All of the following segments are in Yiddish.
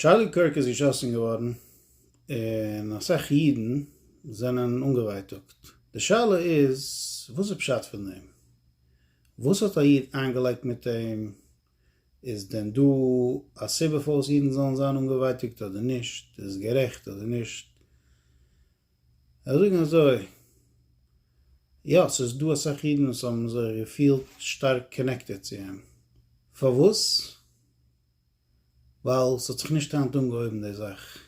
טשארלי קירק איז געשאסן געווארן און אסאך אידן זענען אנגעווייטאגט, די שאלה איז וואס איז פשט פון דעם? וואס האט א איד איינגעלייגט מיט אים? איז דען דא א סיבה פארוואס אידן זאלן זיין אנגעווייטאגט אדער נישט? איז עס גערעכט אדער נישט? איך זאג אזוי, יא ס'איז דא אסאך אידן וואס האבן זיך געפילט שטארק קאנעקטעד צו אים, פארוואס? ווייל ס'האט זיך נישט היינט אנגעהויבן די זאך.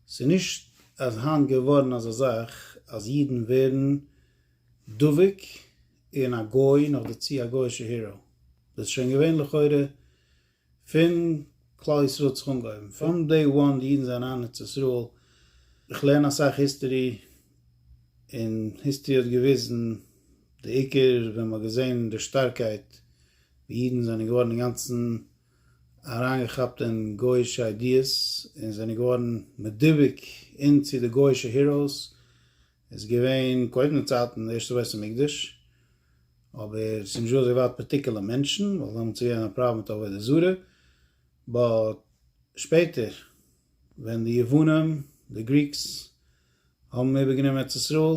ס'איז נישט אז היינט געווארן אזא זאך אז אידן ווערן דבוק אין א גוי נאכדערצו א גוי'שע היראו. דאס איז שוין געווען לכאורה פון כלל ישראל האט זיך אנגעהויבן. פראם דעי וואן די אידן זענען אריין ארץ ישראל. איך לערן אסאך היסטערי און היסטערי האט געוויזן די עיקר ווען מ'האט געזען די שטארקייט די אידן זענען געווארן אינגאנצן אריינגעכאפט אין גוי'אישע איידיעס און זענען געווארן מדבוק אין צו די גוי'אישע היראוס, איז געווען קודם צייטן די ערשטע בית המקדש, אבער ס'איז נישט דא אזוי ווייט פארטיקולער מענטשן, ווייל דעמאלטס איז געווען א פראבלעם מיט עבודה זרה, באט שפעטער ווען די יוונים, די גריקס, האבן איבערגענומען ארץ ישראל,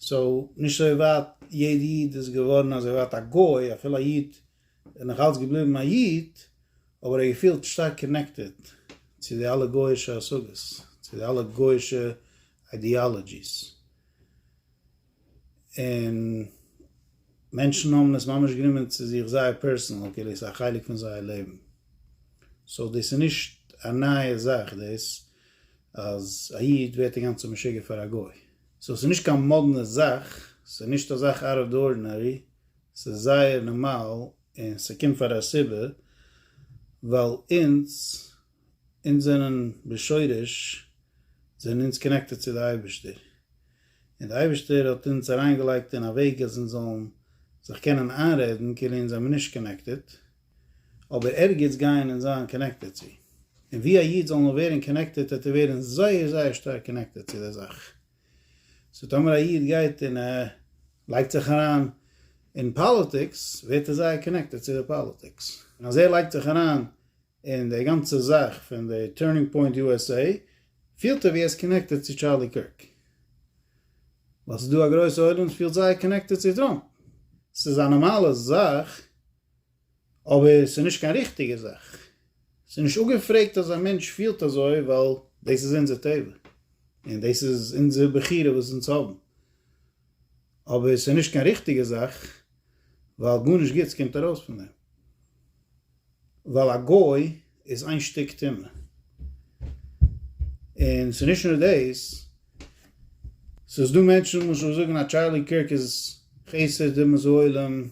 סאו נישט אזוי ווייט יעדע איד איז געווארן אזוי ווייט א גוי אפילו א איד איז נאך אלץ געבליבן א איד אבער ער געפילט שטארק קאנעקטעד צו די אלע גויאישע השגות צו די אלע גויאישע איידיאלאגיס און מענטשן האבן עס ממש גענומען צו זיך זייער פערסענעל כאילו עס איז א חלק פון זייער לעבן סאו דאס איז נישט א נייע זאך דאס אז א איד ווערט אינגאנצן משוגע פאר א גוי. סאו ס'איז נישט קיין מאדנע זאך, ס'איז נישט א זאך אוט אוו די ארדינערי, ס'איז זייער נארמאל און ס'קומט פאר א סיבה, ווייל אונז, אונז זענען בשורש זענען אונז קאנעקטעד צו די אייבערשטער, און די אייבערשטער האט אונז אריינגעלייגט אין א וועג אז אונז זאלן זיך קענען איינרעדן כאילו אונז זעמיר נישט קאנעקטעד, אבער ערגעץ גייען און זיין קאנעקטעד צו. און ווי א איד זאל נאר ווערן קאנעקטעד וועט ער ווערן זייער זייער שטארק קאנעקטעד צו די זאך. סאו טאמער א איד גייט און ער לייגט זיך אריין אין פאליטיקס ווערט ער זייער קאנעקטעד צו די פאליטיקס. און אז ער לייגט זיך אריין אין די גאנצע זאך פון די טורנינג פוינט יו עס עי פילט ער ווי ער איז קאנעקטעד צו טשארלי קירק. ווייל ס'איז דא א גרויסע עולם וואס פילט זייער קאנעקטעד צו טראמפ. ס'איז א נארמאלע זאך. אבער ס'איז נישט קיין ריכטיגע זאך. ס'איז נישט אפגעפרעגט אז א מענטש פילט אזוי ווייל דאס איז אונזער טבע און דאס איז אונזער בחירה וואס אונז האבן. אבער ס'איז נישט קיין ריכטיגע זאך ווייל גארנישט גוטס קומט ארויס פון דעם. ווייל א גוי איז איין שטיק טומאה. און ס'איז נישט נאר דאס. ס'איז דא מענטשן למשל וואס זאגן אז טשארלי קירק איז חסד אמת העולם.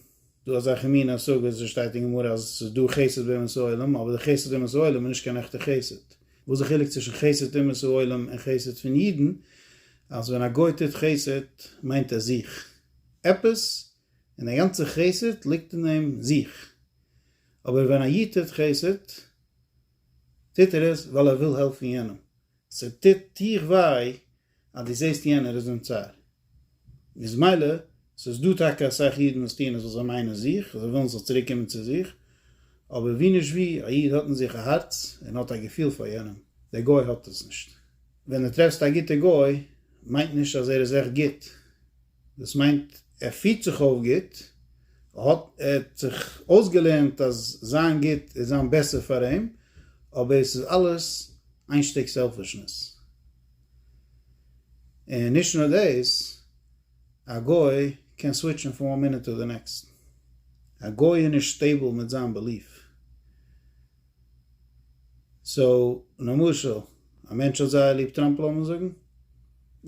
דא אזעלכע מין השגות וואס שטייט אין גמרא אז עס איז דא חסד באומות העולם אבער די חסד אומות העולם איז נישט קיין עכטע חסד, וואס די חילוק צווישן חסד אומות העולם און חסד פון אידן אז ווען א גוי טוט חסד מיינט ער זיך עפעס און דער גאנצע חסד ליגט אין דעם זיך אבער ווען א איד טוט חסד טוט ער עס ווייל ער וויל העלפן יענעם ס'טוט דיך וויי אז דו זעסט יענער איז אין צער, איז מילא ס'איז דא טאקע אסאך אידן וואס טוען עס ווייל זיי מיינען זיך, זיי ווילן זיך צוריק קומען צו זיך, אבער ווי נישט ווי, א איד האט אין זיך א הארץ און האט א געפיל פאר יענעם, דער גוי האט עס נישט. ווען דו טרעפסט א גוטע גוי מיינט נישט אז ער איז עכט גוט, דאס מיינט ער פירט זיך אויף גוט, ער האט זיך אויסגעלערנט אז זיין גוט איז זיין בעסער פאר אים, אבער עס איז אלעס איין שטיק סעלפישנעס. און נישט נאר דאס, א גוי קען סוויטשן פון וואן מינוט טו די נעקסט, א גוי איז נישט סטעיבל מיט זיין בעליף. סאו למשל א מענטש האט זייער ליב טראמפ לאמיר זאגן,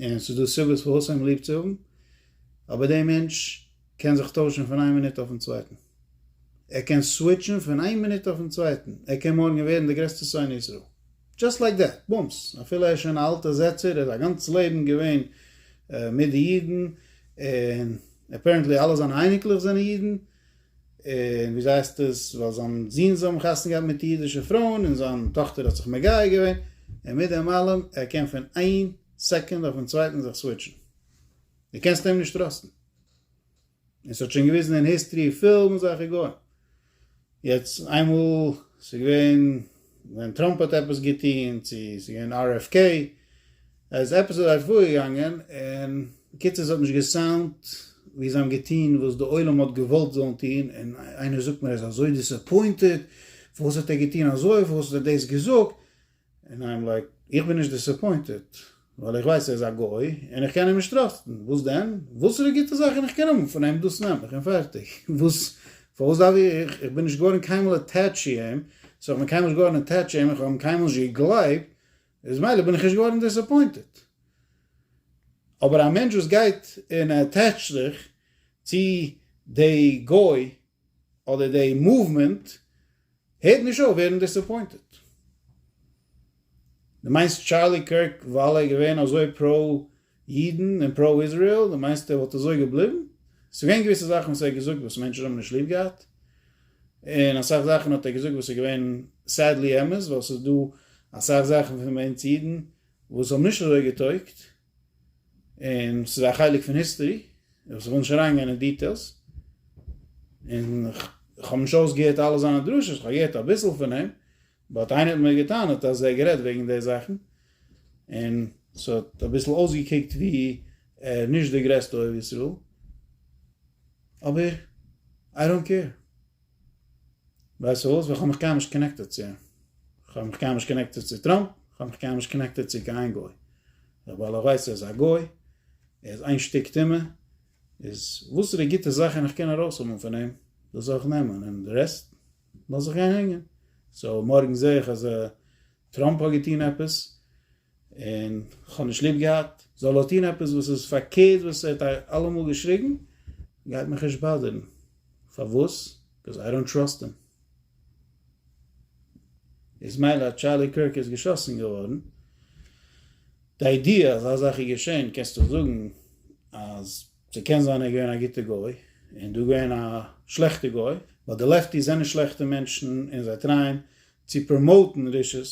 און ס'איז דא סיבות פארוואס אים ליב צו האבן, אבער די מענטש קען זיך טוישן פון איין מינוט אויפן צווייטן, ער קען סוויטשן פון איין מינוט אויפן צווייטן, ער קען מארגן ווערן די גרעסטע שונא ישראל, דזשאסט לייק דעט, בומס, אפילו ער איז שוין א אלטע זעצער, ער איז א גאנץ לעבן געווען מיט די אידן, און עפערענטלי אלע זיינע אייניקלעך זענען אידן, און וויאזוי הייסט עס, ווייל זיין זוהן זאל האבן חתונה געהאט מיט אידישע פרויען, און זיין טאכטער האט זיך מגייר געווען, און מיט דעם אלעם, ער קען פון איין סעקונד אויפן צווייטן זיך סוויטשן. דו קענסט אים נישט טראסטן. און ס'האט שוין געוויזן אין היסטרי פול מיט זאכע גוים. יעצט איינמאל ס'געווען ווען טראמפ האט עפעס געטוהן, צו ס'געווען RFK, ער איז עפעס אזוי פארגעגאנגען, און בקיצור ס'האט נישט געסאונדט ווי זיי האבן געטון וואס די עולם האט געוואלט זאלן טון, און איינער זאגט מיר ער איז אזוי דיסעפוינטעד, פארוואס האט ער געטון אזוי, פארוואס האט ער דאס געזאגט, און אייעם לייק, איך בין נישט דיסעפוינטעד, ווייל איך ווייס ער איז א גוי, און איך קען אים נישט טראסטן, וואס דען, וואסערע גוטע זאכן איך קען האבן פון אים דאס נעם איך און פערטיג, וואס, פארוואס דארף איך, איך בין נישט געווארן קיינמאל עטעטש צו אים, סאו איך בין קיינמאל נישט געווארן עטעטש צו אים, איך האב אים קיינמאל נישט געגלייבט, איז מילא בין איך נישט געווארן דיסעפוינטעד. אבער א מענטש וואס גייט און עטעטשט זיך צו די גוי אדער די מאוומענט הערט נישט אויף ווערן דיסעפוינטעד. דו מיינסט טשארלי קירק ווייל ער איז געווען אזוי פרא אידן און פראו איזריעל, דו מיינסט ער וואלט אזוי געבליבן? עס איז געווען געוויסע זאכן וואס ער האט געזאגט וואס מענטשן האבן נישט ליב געהאט, און אסאך זאכן האט ער געזאגט וואס איז געווען סעדלי אמת, ווייל עס איז דא אסאך זאכן פון אונז אידן וואס האבן נישט אזוי געטויגט, און עס איז א חלק פון היסטערי, וואס איך וויל נישט אריינגיין אין דיטעילס, און איך האב נישט אויסגעהערט אלע זיינע דרשות, איך האב געהערט אביסל פון אים, באט איינער האט מיר געטענה'ט אז ער האט גערעדט וועגן די זאכן און ס'האט אביסל אויסגעקוקט ווי ער איז נישט די גרעסטע אוהב ישראל, אבער איי דאנט קעיר. ווייסט וואס? ווייל כ'האב מיך קיינמאל נישט קאנעקטעד צו אים. כ'האב מיך קיינמאל נישט קאנעקטעד צו טראמפ, כ'האב מיך קיינמאל נישט קאנעקטעד צו קיין גוי. ווייל איך ווייס ער איז א גוי, ער איז איין שטיק טומאה, איז וואסערע גוטע זאכן איך קען ארויסהאבן פון אים, דאס זאל איך נעמען, און די רעסט? לאז איך גיין הענגען. סאו מארגן זעה איך אז טראמפ האט געטון עפעס און כ'האב נישט ליב געהאט, זאל ער טון עפעס וואס איז פארקערט וואס ער האט אלעמאל געשריגן, גייט מיך נישט באדערן. פארוואס? ביקאוז איי דאנט טראסט הים. איז מילא אז טשארלי קירק איז געשאסן געווארן, די איידיע אז אזא זאך איז געשען קענסטו זאגן אז. ס'קען זיין ער איז געווען א גוטע גוי און דא געווען א שלעכטע גוי, ווייל די לעפטיס זענען שלעכטע מענטשן און זיי טרייען צו פראמאוטן רשעות,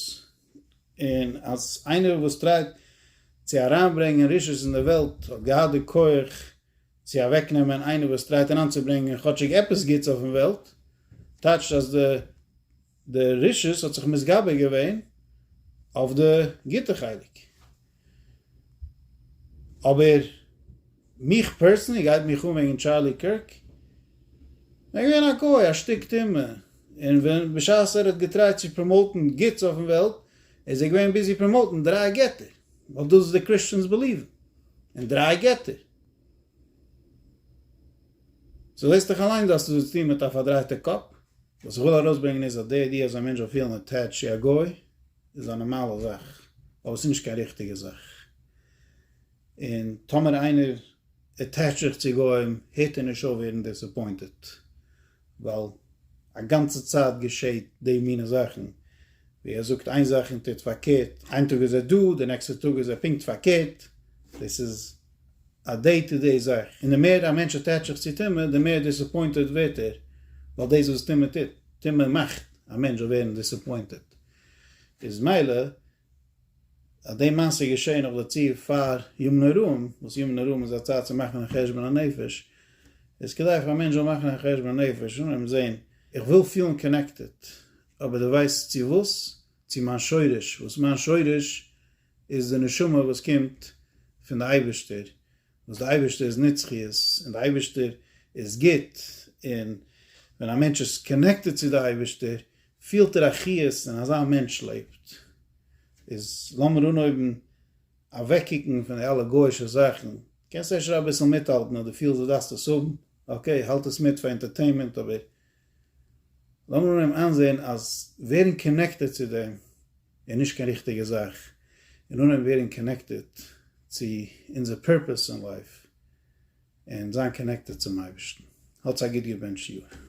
און אז איינער וואס טרייט צו אריינברענגען רשעות אין די וועלט האט געהאט די כח צו אוועקנעמען איינער וואס טרייט אריינצוברענגען כאטשיג עפעס גוטס אויפן וועלט, טייטשט אז די די רשות האט זיך מתגבר געווען אויף די גוטע חלק, אבער מיך פערסענלי גייט מיך אן וועגן טשארלי קירק, ער איז געווען א גוי א שטיק טומאה, און ווען בשעת ער האט געטרייט צו פראמאוטן גוטס אויפן וועלט איז ער געווען ביזי פראמאוטן דריי געטער, ווייל דאס איז די קריסטשענס בעליוון און דריי געטער. סאו זעסט דיך אליין דא אז ס'האט צוטון מיט א פארדרייטע קאפ. וואס איך וויל ארויסברענגען איז אז די איידיע אז א מענטש זאל פילן אטעטשט צו א גוי איז א נארמאלע זאך, אבער עס איז נישט קיין ריכטיגע זאך. און טאמער איינער אטעטשט זיך צו גוים הערט ער נישט אויף ווערן דיסעפוינטעט, ווייל א גאנצע צייט געשעט די מינע זאכן, ווי ער זאגט איין זאך און טוט פארקערט, איין טאג איז ער דא, די נעקסטע טאג איז ער פונקט פארקערט, דאס איז. א דעי טו דעי זאך, און די מער א מענטש אטעטשט זיך צו טומאה די מער דיסעפוינטעט ווערט ער, ווייל דאס וואס טומאה טוט, טומאה מאכט א מענטש זאל ווערן דיסעפוינטעט, איז מילא אז די מעשה איז געשעהן נאך דערצו פאר ימים נוראים, וואס ימים נוראים איז א צייט צו מאכן א חשבון הנפש, איז כדאי פאר א מענטש זאל מאכן א חשבון הנפש און און זעהן, איך וויל פילן קאנעקטעט, אבער די ווייסט צו וואס? צו מיין שורש, וואס מיין שורש? איז די נשמה וואס קומט פון די אייבערשטער, וואס די אייבערשטער איז נצחיות, און די אייבערשטער איז גוט, און ווען א מענטש איז קאנעקטעד צו די אייבערשטער פילט ער א חיות און אזא מענטש לעבט, איז לאמיר אנהויבן אוועקקוקן פון די אלע גויאישע זאכן, קענסט אפשר אביסל מיטהאלטן אז די פילסט די דארפסט עס האבן, אקעי האלט עס מיט פאר ענטערטעינמענט אבער. לאמיר נעם איינזעהן אז ווערן קאנעקטעד צו דעם איז נישט קיין ריכטיגע זאך, און אנהייבן ווערן קאנעקטעד צו אונזער פורפעס אין לייף, און זיין קאנעקטעד צום אייבערשטן. האטס א גוט געבענטשט יאר.